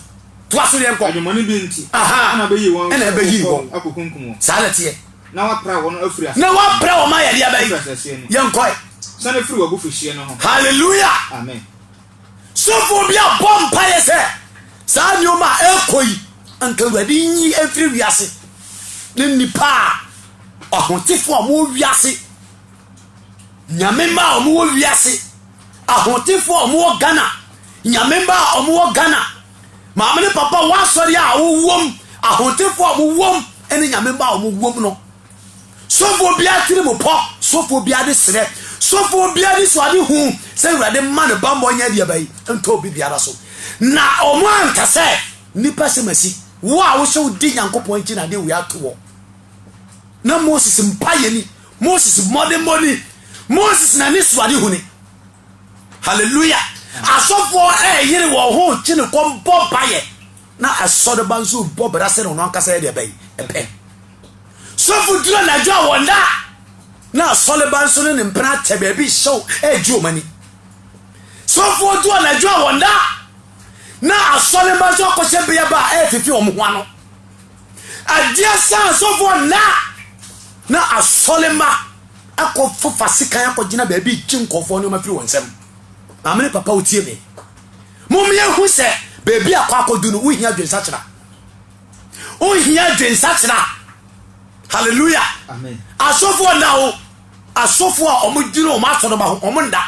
Toa so yɛnkɔ. Adwemmɔne bi nti. Aha. Ɛna ɔbɛyi wɔn. Ɛna ɛbɛyi wɔn. Akɔkunkum wɔn. Saa na ɛteɛ. Na wapra wɔn afiri asase. Na wapra wɔn ayɛ deɛ bɛyi. Afiri asase no. Yɛn kɔɛ. Sani firi wɔ abufuhyie no ho. Hallelujah. Amen. Sɔfo bi abɔ mpa yɛ sɛ saa nneɛma a ɛkɔ yi nka awurade nyi mfiri wiase ne nipa a ɔhotefo a wɔn wiase. Nyame mma a wɔwɔ wiase, ahotefoɔ a wɔwɔ Ghana, Nyame mma a wɔwɔ Ghana, maame ne papa wɔn asɔre a wɔwom, ahotefoɔ a wɔwom, ɛne Nyame mma a wɔwom no. Sɔfoɔ biara tiri mu pɔ, sɔfoɔ biara de serɛ, sɔfoɔ biara de suade hu sɛ Awurade mma ne bammɔ nyɛ deɛ bayi ntɔ obi biara so. Na wɔn anka sɛ nnipa sɛ masi, wo a wohyɛ wo di Nyankopɔn akyi na adeɛ wei ato wɔ. Na Moses mpa yɛ ni. Moses mmɔdemmɔ ni. Moses na ne suade huni. Hallelujah. Asɔfoɔ ɛyere wɔn ho kye ne kɔm bɔ bayɛ. Na asɔreba nso bɔ bra sɛ na ɔno ankasa yɛ deɛ bɛyi. Ɛpɛ. Sɔfo duro na adwa wɔn da. Na asɔreba nso ne ne mpena atɛ baabi hyɛw ɛgye wɔn ani. Sɔfo duro na adwa wɔn da. Na asɔreba nso akɔhyɛ bea ba ɛfifi wɔn ho ano. Adeɛ saa asɔfoɔ nnaa na asɔremma akɔ fofa sekan akɔ gyina baabi gye nkɔfoɔ nneɛma firi wɔn nsam. Maame ne papa wotie me. Mommea hu sɛ baabi akɔ akɔdu no wohia adwensakyera. Wohia adwensakyera. Hallelujah. Asɔfoɔ nnaa o. Asɔfoɔ a wɔn gyina wɔn asɔremma ho wɔn nda.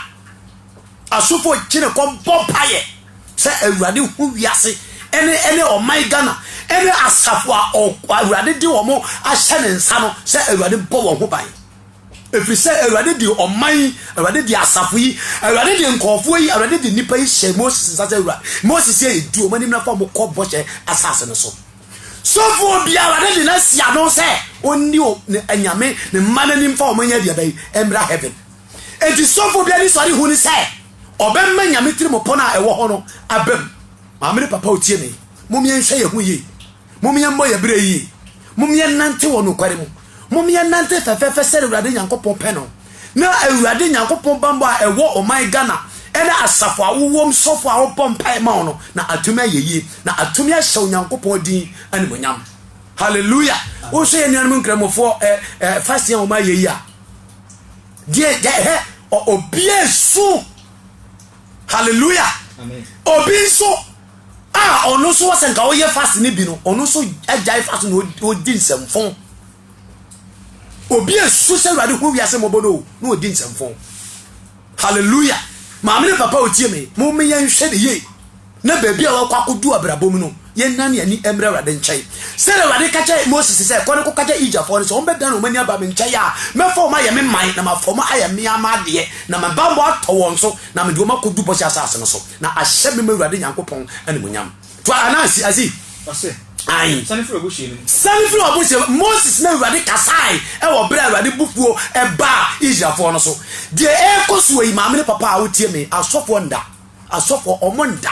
Asɔfoɔ gyina kɔ bɔ mpaeɛ sɛ Awurade hu wiase ɛne ɛne ɔman Ghana ɛne asafo a Awurade de wɔn ahyɛ ne nsa no sɛ Awurade bɔ wɔn ho ban. Ɛfiri sɛ Awurade de ɔman yi, Awurade de asafo yi, Awurade de nkɔɔfoɔ yi, Awurade de nnipa yi hyɛ Moses nsa sɛ Awurade. Moses yɛ ɛdi wɔn anim na fa wɔn kɔ bɔhyɛ asase no so. Sɔfoɔ bi Awurade de n'asi ano sɛ ɔnni ne anyame ne mma n'anim fa wɔn nyɛ deɛ bɛyi mmra heaven. Enti sɔfo bi anisɔre hu ne sɛ ɔbɛma Nyame tirim pon a ɛwɔ hɔ no abam. Maame ne papa otie me, mom yɛnhwɛ yɛn ho yie. Mom yɛmmɔ yɛn berɛ yie. Mom yɛnnante wɔ nokware mu. Mom yɛnnante fɛfɛɛfɛ sɛdeɛ Awurade Nyankopɔn pɛ no. Na Awurade Nyankopɔn bammɔ a ɛwɔ ɔman Ghana ne asafo a wowom sɔfo a wobɔ mpae ma wo no na atumi ayɛ yie na atumi ahyɛ Onyankopɔn din animuonyam. Hallelujah. Wohwɛ yɛn nuanom nkramofoɔ eh, eh, fasting a wɔayɛ yi a, deɛ yɛhɛ obi nso hallelujah obi nso a ɔno nso wɔ sɛ nka ɔyɛ fast no bi no ɔno nso agyae fast na ɔdi nsɛmfo obi nso sɛ awurade ho wiase mmɔbɔ no na ɔdi nsɛmfo Hallelujah! Maame ne papa a wɔtie me, momme yɛnhwɛ no yie na baabi a wɔakɔ akɔdu abrabɔ mu no, yɛnnane yɛn ani mmra Awurade nkyɛn. Sɛdeɛ Awurade ka kyerɛɛ Moses sɛ, Kɔ na kɔka kyerɛ Egyptfoɔ no sɛ, wɔbɛdane wɔn ani aba me nkyɛn a, mɛfa wɔn ayɛ me man, na mafa wɔn ayɛ me ara m'adeɛ, na me banbɔ atɔ wɔn so, na mede wɔn akɔdu bɔhyɛ asase no so, na ahyɛ me man Awurade Nyankopɔn animuonyam. Fa Anansi asi. Ɔse, Ae. Sane firi w'abohyeɛ no mu. Sane firi w'abohyeɛ no mu. Moses ne Awurade kasaeɛ wɔ berɛ a Awurade bofuo baa Israelfoɔ no so. Deɛ ɛrekɔ soɔ yi, maame ne papa a wotie me, asɔfoɔ nda. Asɔfoɔ, wɔn nda.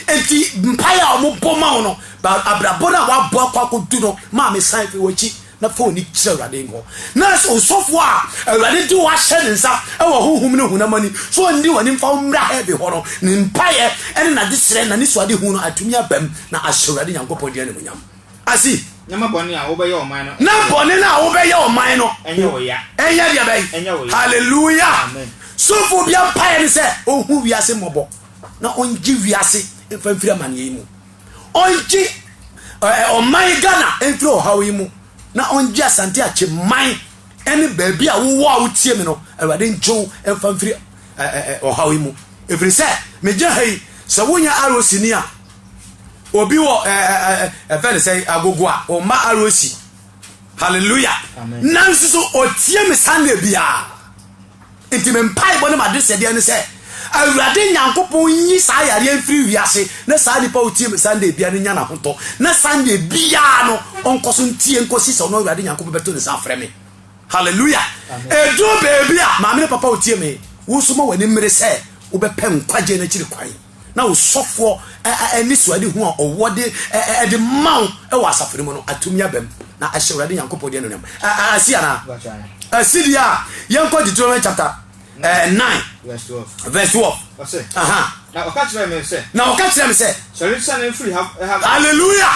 Enti mpaeɛ a wɔbɔ ma wo no, abrabɔ no a woabɔ akɔ akɔdu no, maame san firi w'akyi. na fa w'ani kyerɛ Awurade hɔ, na sɛ osɔfo a Awurade de wo ahyɛ ne nsa wɔ honhom ne honam ani sɛ ɔnni w'anim mfa wo mmra Herb hɔ no, ne mpaeɛ ne n'adesrɛ na ne suadehu no atumi abam na ahyɛ Awurade Nyankopɔn din animuonyam. Asi. Na ma bɔne a wobɛyɛ ɔman no ɛnyɛ wo ya. Na bɔne no a wobɛyɛ ɔman no ɛnyɛ wo ya. Ɛnyɛ deɛ bɛn? Ɛnyɛ wo ya. Hallelujah! Amen. Sɔfoɔ biara mpaeɛ ne sɛ ɔnhu wiase mmɔbɔ na ɔngye wiase mfa mfiri amaneɛ yi mu. ɔngye ɛɛ ɔman Ghana mfiri ɔhaw yi mu na ɔngye Asante Akyeman ɛne baabi a wowɔ a wotie mi no Awurade ngye wo mfa mfiri ɛɛ ɔhaw yi mu ɛfiri sɛ megyina ha yi sɛ wonyɛ ROC ni a obi wɔ ɛɛ ɛfɛ ne sɛ agogo a ɔmma ROC hallelujah nanso so ɔtie me Sunday biara Enti me mpaebɔ ne m'adesrɛ biara ne sɛ Awurade Nyankopɔn nyi saa yareɛ mfiri wiase na saa nipa a ɔtie me Sunday biara no nya n'ahotɔ na Sunday biara no ɔnkɔ so ntie nkɔsi sɛ ɔno Awurade Nyankopɔn bɛto ne nsa afrɛ me. Hallelujah! Ɛduru baabi a, maame ne papa a ɔtie me, wo nso ma w'ani mmere sɛ wobɛpɛ nkwagyeɛ no akyiri kwan. na wo sɔfoɔ anisoadehu a ɔwɔ de ɛde ma wo wɔ asafo no mu no atumi aba mu na ahyɛ awurade nyankopɔn de anuonyam asi anaa asi deɛ a yɛnkɔ deuteronomy chapter eh, 9 verse 12 na ɔka kyerɛ me sɛ hallelujah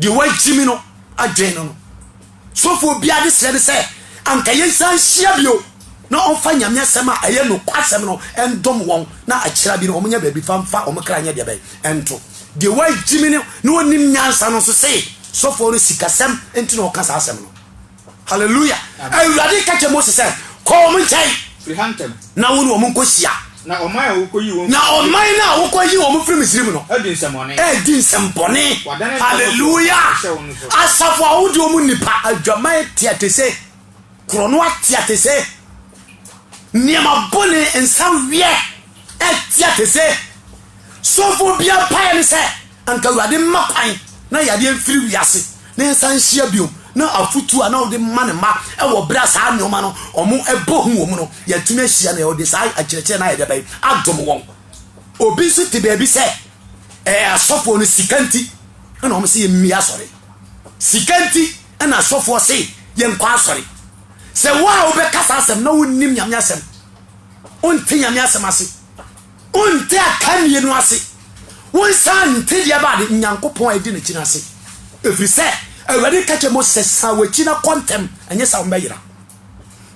Deɛ wagye me no adwen no no. Sofoɔ biara de serɛ ne sɛ anka yɛnsan nhyia bio na ɔmfa Nyame asɛm a ɛyɛ nokwasɛm no ndom wɔn na akyira bi no ɔmonyɛ baabi fa mfa wɔn kra nyɛ deɛ bɛn ɛnto. Deɛ wagye me no na ɔnim nyansa no nso se sofoɔ no sikasɛm nti na ɔka saa asɛm no. Hallelujah! Awurade ka kyerɛ Mose sɛ, Kɔ wɔn nkyɛn. Firi ha ntɛm. Na wo ne wɔn nkɔhyia. Na ɔman a wokɔyi wɔn. Na ɔman no a wokɔyi wɔn firi Misraim no. Adi nsɛmmɔne. Adi nsɛmmɔne. Wadane. Hallelujah! Asafo a wodi wɔn nnipa. Adwaman teatese. Korɔno ateatese. Nneɛma bɔne nsaweɛ ɛteatese. Sɔfoɔ biara mpaeɛ ne sɛ, anka Awurade mma kwan na yadeɛ mfiri wiase na yɛnsan nhyia bio, na afotuo a na ɔde ma ne mma wɔ berɛ a saa nneɛma no wɔbɔ hu wɔn no, yɛatumi ahyia na ɔde saa akyerɛkyerɛ no ayɛ dɛ bɛn adom wɔn. Obi nso te baabi sɛ ɛɛ asɔfoɔ no sika nti na wɔn sɛ yɛmmie asɔre. Sika nti na asɔfoɔ se yɛnkɔ asɔre. Sɛ wo a wobɛka saa asɛm na wonnim Nyame asɛm, wonte Nyame asɛm ase, Wonte akannie no ase, wonsan nte deɛ ɛbaa Nyankopɔn a edi n'akyi no ase, ɛfiri sɛ Awurade ka kyerɛɛ Mose sɛ, San w'akyi na kɔ ntɛm, ɛnyɛ saa a wɔbɛyera.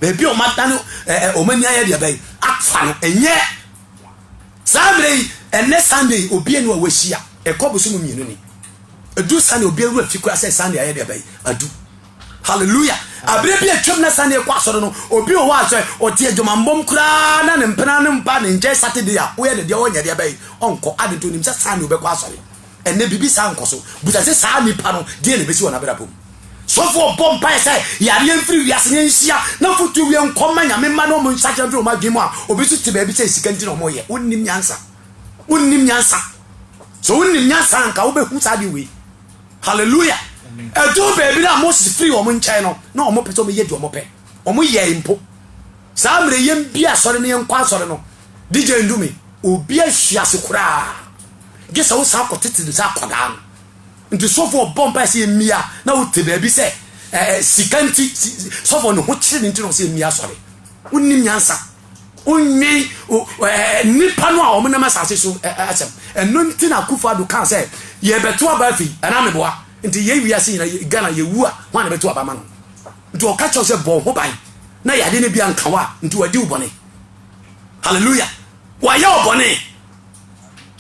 Baabi a wɔadane wɔn ani ayɛ deɛ bɛn afa no, ɛnyɛ saa mmerɛ yi, ɛnɛ Sunday obie no a wɔahyia, ɛkɔ bosom mmienu ni. Ɛdu Sunday obie wura fi koraa sɛ Sunday ayɛ deɛ bɛn adu. Hallelujah! Abere bi a atwam na sani kɔ asɔre no, obi wɔ hɔ a sɛ ɔte adwumammɔm koraa na ne mpena no mpa ne nkyɛn Saturday a, woyɛ ne deɛ ɔnyɛ deɛ bɛyɛ, ɔnkɔ. Ade nti, onim sɛ sani ɔbɛkɔ asɔre. Ɛnnɛ biribi saa nkɔ so. Busa sɛ saa nipa no, deɛ na ɛbɛsi wɔ n'abrabɔ mu? Sɔfo ɔbɔ mpaeɛ sɛ yareɛ mfiri wiase na ɛnhyia na fotuo wie nkɔ mma nyame mma na wɔn nsakyera mfiri wɔn adwene mu a, obi nso te baabi sɛ sika nti na wɔyɛ. Wonnim nyansa. Wonnim nyansa. Sɛ wonim nyansa a, anka wobɛhu saa adeɛ wei. Hallelujah! Ɛduu baabi no a Moses firii wɔn nkyɛn no, na wɔn pɛ sɛ wɔn yɛ deɛ wɔn pɛ. Wɔn yɛɛ mpo. Saa mmerɛ yɛn bi asɔre no yɛn kɔ asɔre no, DJ Ndumi, obi ahwi ase koraa. Gye sɛ wosan kɔ tete no sɛ akɔdaa no. Nti sɔfo ɔbɔ mpa sɛ yɛn mia na wote baabi sɛ ɛɛ sika nti sɔfo ne ho kyere ne nti na ɔsɛ yɛn mia asɔre. Wonim nyansa. Wonnwen nnipa no a wɔnam asase so asɛm. Ɛno nti na Akufo Addo kaa sɛ, yɛbɛto aba afei, anaa meboa? Nti yɛn wiase nyina, Ghana yɛwu a, hwan na ɛbɛto aba ama no? Nti ɔka kyerɛ wo sɛ bɔ wo ho ban na yade no bi anka wo a, nti wadi wo bɔne. Hallelujah. Wayɛ wo bɔne.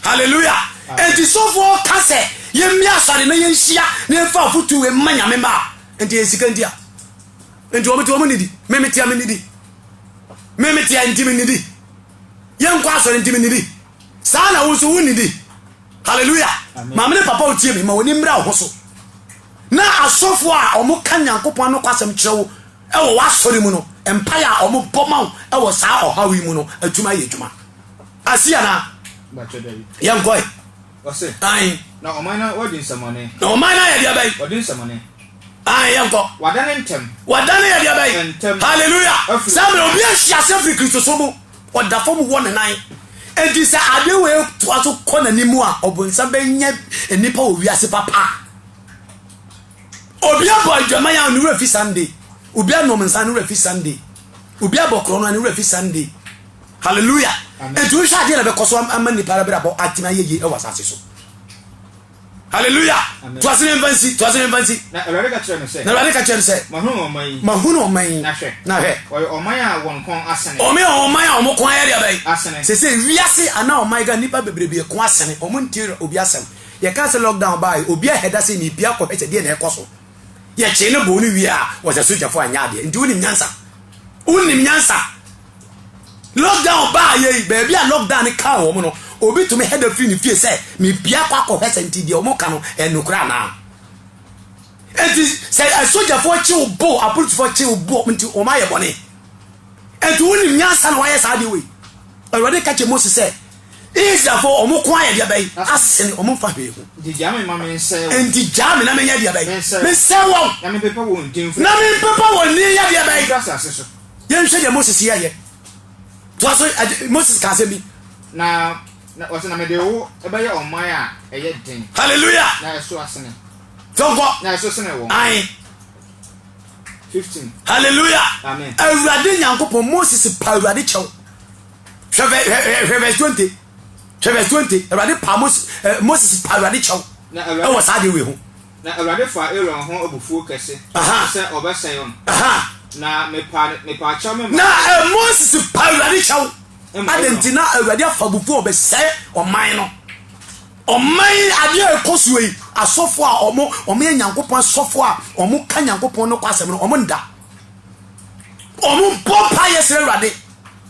Hallelujah. Nti sɔfo ɔka sɛ yɛmmia asɔre na yɛnhyia na yɛmfa afotu wei mma nyame mma a, nti yɛn sika nti a. Nti wɔn ti wɔn nidi, meme ti a menidi. Me mete a, enti mennidi. Yɛnkɔ asɔre, enti mennidi. Saa na wo nso wonnidi. Haleluya! Maame ne papa wotie me, ma w'ani mmra wo ho so. Na asɔfo a wɔka Nyankopɔn anokwasɛm kyerɛ wo wɔ w'asɔre mu no, mpae a wɔbɔ ma wo wɔ saa ɔhaw yi mu no atumi ayɛ adwuma. Asi anaa? Yɛnkɔe. Ɔse, na ɔman no wɔde nsɛmɔne. Na ɔman no ayɛ deɛ bɛn? Wɔde nsɛmɔne. Ae, yɛnkɔ. Wadane ntɛm. Wadane yɛ deɛ bɛn? Ntɛm. Hallelujah. Afiri. Saa mmerɛ obi ahwe ase afiri Kristo so no, ɔda fam wɔ ne nan. Enti sɛ adeɛ wei toa so kɔ n'anim a, ɔbonsam bɛnya nnipa wɔ wiase papa. Obi abɔ adwaman a ne werɛ fi Sunday. Obi anom nsa ne werɛ fi Sunday. Obi abɔ korɔ no a ne werɛ fi Sunday. Hallelujah. Enti wohwɛ adeɛ na bɛkɔ so ama nnipa abrabɔ atena yɛyie wɔ asase so. Hallelujah! To ase na mfa nsi, to ase na mfa nsi. Na Awurade ka kyerɛ no sɛ. Na Awurade ka kyerɛ no sɛ. Mahunu ɔman yi. Mahunu ɔman yi. Na hwɛ. Na hwɛ. Wɔyɛ ɔman a wɔn kɔn asene. Wɔn yɛ ɔman a wɔn kɔn ayɛ deɛ bɛn. Asene. Sese wiase anaa ɔman ka nipa bebrebe kɔn asene. Wɔn ntie obi asɛm. Yɛ ka sɛ lockdown baayi obi ahɛ da sɛ ni pia kɔ hɛ sɛ deɛ na ɛkɔ so. Yɛ kyee ne bɔn ne wie a wɔsɛ sogyafo anyɛ adeɛ nti wonim nyansa. Wonim nyansa. Lockdown baa yɛ yi, baabi a lockdown no kaa wɔn no, obi tumi hɛda firi ne fie sɛ mebia kɔ akɔhwɛ sɛ nti deɛ wɔn ka no ɛnokora anaa. Nti sɛ asogyafoɔ kye wo bo, apolisifoɔ kye wo bo nti wɔn ayɛ bɔne. Nti wonim nyansa na wɔayɛ saa deɛ wei. Awurade ka kyerɛ Mose sɛ Israelfoɔ wɔn ko ayɛ deɛ bɛyi asen wɔn mfa hwee ho. Nti gyaa me ma mensɛ wɔn. Nti gyaa me na menyɛ deɛ bɛyi mensɛ wɔn. Na mempepa wɔn din yɛ deɛ bɛyi. Yɛnhwɛ deɛ Moses yɛeɛ. Toa so, Moses kaa asɛm bi. Na na ɔsɛ na mede wo bɛyɛ ɔman a ɛyɛ den. Hallelujah. Na ɛso asene. Tɔnkɔ. Na ɛso sene wɔn. Ae. 15. Hallelujah. Amen. Awurade Nyankopɔn Moses pa Awurade kyɛw. Hwɛ hwɛ verse 20. Hwɛ verse 20. Awurade pa Moses eh, Moses pa Awurade kyɛw. Ɛwɔ saa de wei ho. Na Awurade faa Aaron ho abufuo kɛse, Aha! sɛ ɔbɛsɛe ɔno. Aha! Na mepa, mepaa kyɛw me Na maa. eh, Moses pa Awurade kyɛw. Ɛma Adɛn Aaron. nti na Awurade afa abufuo a ɔbɛsɛe ɔman no? Ɔman yi adeɛ a ɛkɔ soɔ yi, asɔfoɔ a wɔn wɔn yɛ Nyankopɔn asɔfoɔ a wɔn ka Nyankopɔn no kɔ asɛm no, wɔn nda. Wɔn bɔ mpa yɛ srɛ Awurade.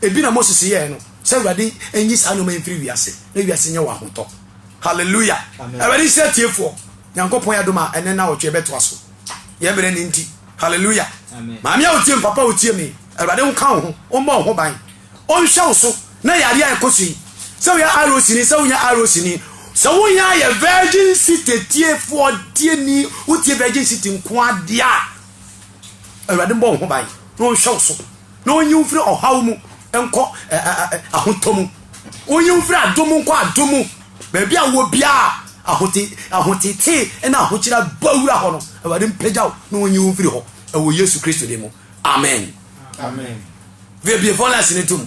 Ebi na Moses yɛɛ no sɛ Awurade nyi saa nneɛma yi mfiri wiase na wiase nyɛ wɔ ahotɔ. Hallelujah! Awurade nhyira atiefoɔ. Nyankopɔn yɛ adom a ɛnɛ nawɔtwe ɛbɛtoa so. Yɛ mmerɛ ne nti. Hallelujah! Maame a otie mpapa a otie me, Awurade nka wo ho, ɔmmɔ wo ho ban, ɔnhwɛ wo so na yareɛ a ɛkɔ so yi. Sɛ woyɛ ROC ni, sɛ wonyɛ ROC ni, sɛ wonya yɛ Virgin City tiefoɔ tie ni, wotie Virgin City nkoa deɛ a, Awurade mmɔ wo ho ban na ɔnhwɛ wo so. Na onyi wo mfiri ɔhaw mu nkɔ ahotɔ mu. Onyi wo mfiri adom mu nkɔ adom mu. Baabi a wowɔ biara ahote ahotetee na ahokyera bɔ wura hɔ no, Awurade mpagya wo na onyi wo mfiri hɔ wɔ Yesu Kristo din mu. Amen. Amen. Bie phone lines no tom.